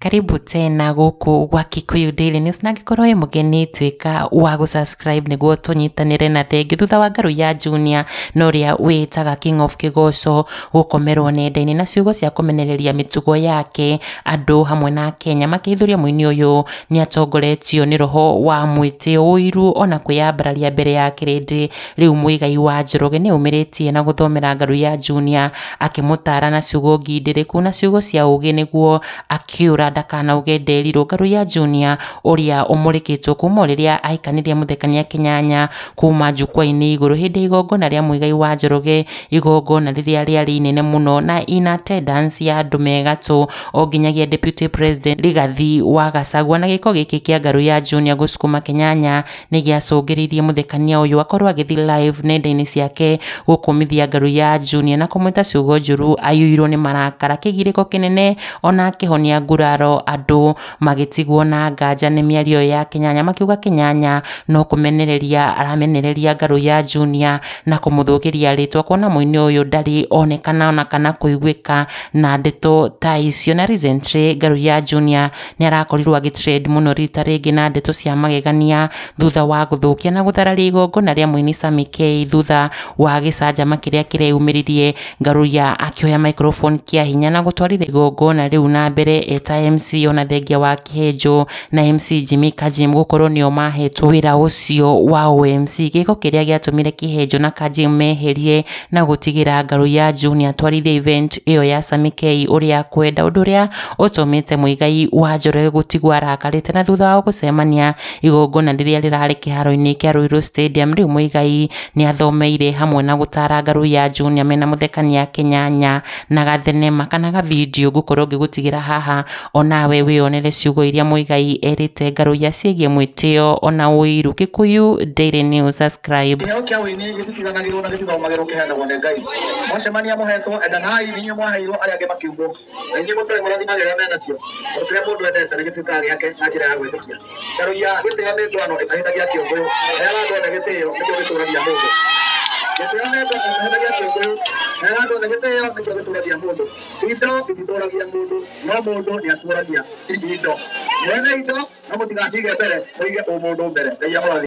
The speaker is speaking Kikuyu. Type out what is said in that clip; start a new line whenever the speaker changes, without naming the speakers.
karibu tena gũkũ gwa kikuyu daily news na angĩkorwo wĩ mũgeni tuĩka wa gũsubscribe nĩguo tũnyitanĩre na thengi thutha wa ngarũ ya junior na ũrĩa wĩtaga king of kĩgoco gũkomerwo nenda-inĩ na ciugo cia kũmenereria mĩtugo yake andũ hamwe na akenya makĩihũria mũini ũyũ nĩatongoretio nĩ roho wa mwĩtĩo, ũiru ona kwĩyambararia mbere ya kĩrĩndĩ. Rĩu mũigai wa Njoroge nĩaumĩrĩtie na gũthomera Ngarũ ya Junior akĩmũtaara na ciugo ngindĩrĩku na ciugo cia ũgĩ nĩguo akĩũra ndakanauge nderirwo. Ngarũ ya Junior ũrĩa ũmũrĩkĩtwo kuuma o rĩrĩa ahikanirie Mũthekania Kĩnyanya kuuma njukwa-inĩ igũrũ hĩndĩ ya igongona rĩa mũigai wa Njoroge igongona rĩrĩa rĩarĩ inene mũno na in attendance ya andũ me gatũ o nginyagia deputy president Rigathi wa Gachagua. Na gĩko gĩkĩ kĩa ngarũ ya Junior gũsukuma Kenyanya nĩ gĩacũngĩrĩirie mũthekania ũyũ akorwo agĩthiĩ live nenda-inĩ ciake gũkũmithia ngarũ ya Junior na kũmwĩta ciugo njũru aiyũirwo nĩ marakara. Kĩgirĩko kĩnene ona akĩhonia nguraro andũ. magĩtigwo na nganja nĩ mĩario ĩyo ya Kĩnyanya makiuga Kĩnyanya no kũmenereria aramenereria Ngarũ ya Junior na kũmũthũgĩria rĩtwa kuona mũini ũyũ ndarĩ onekana ona kana kũiguĩka na ndeto ta icio. Na recently Ngarũ ya Junior nĩ arakorirwo agĩ trend mũno rita rĩngĩ na ndeto cia magegania thutha wa gũthũkia na gũthararia igongona rĩa mũini Sammy Kay thutha wa gĩcanjama kĩrĩa kĩreyumĩririe Ngaruiya akĩoya microphone kĩa hinya na gũtwarithia igongona rĩu na mbere eta MC ona thengia wa Kĩhĩnjũ na MC Jimmy Kajim gũkorwo nĩo mahetwo wĩra ũcio wa ũ-MC, gĩko kĩrĩa gĩatũmire Kĩhĩnjũ na Kajim meherie na gũtigĩra Ngaruiya Junior atwarithie event ĩyo ya Sammy K ũrĩa akwenda, ũndũ ũrĩa ũtũmĩte Muigai wa Njoroge gũtigwo arakarĩte na thutha wao gũcemania igongona rĩrĩa rĩrarĩ kĩharo-inĩ kĩa Ruiru Stadium, rĩu Muigai nĩathomeire hamwe na gũtara ngarũ ya junior mena mũthekania kĩnyanya na gathenema kana ga video ngũkorwo ngĩgũtigĩra haha onawe wĩyonere ciugo iria mũigai erĩte ngarũ iria ciĩgiĩ mwĩtĩo ona ũiru gĩkũyũ daily news subscribe. Kĩheo kĩa ũini gĩtitiganagĩrwo na gĩtithomagĩrwo kĩheanagwo nĩ Ngai. Mwacemania mũhetwo, endanai, nĩ inyuĩ mwaheirwo, arĩa angĩ makĩumbwo. aingĩ mũtarĩ mũrathimagĩrĩra mena cio tondũ kĩrĩa mũndũ endete nĩ gĩtuĩkaga gĩake na njĩra ya gwĩtĩkia ndarũia gĩtĩo nĩ ndwano ĩtahĩtagia kĩũngũyũ rĩrĩa andũ othe gĩtĩo nĩkĩo gĩtũragia mũndũ gĩtĩo nĩ ndwano ĩtahĩtagia kĩũngũyũ rĩrĩa andũ othe gĩtĩo nĩkĩo gĩtũragia mũndũ indo ititũragia mũndũ no mũndũ nĩ atũragia indo mwene indo no mũtigacige mbere mũige ũmũndũ mbere ngai amũrathime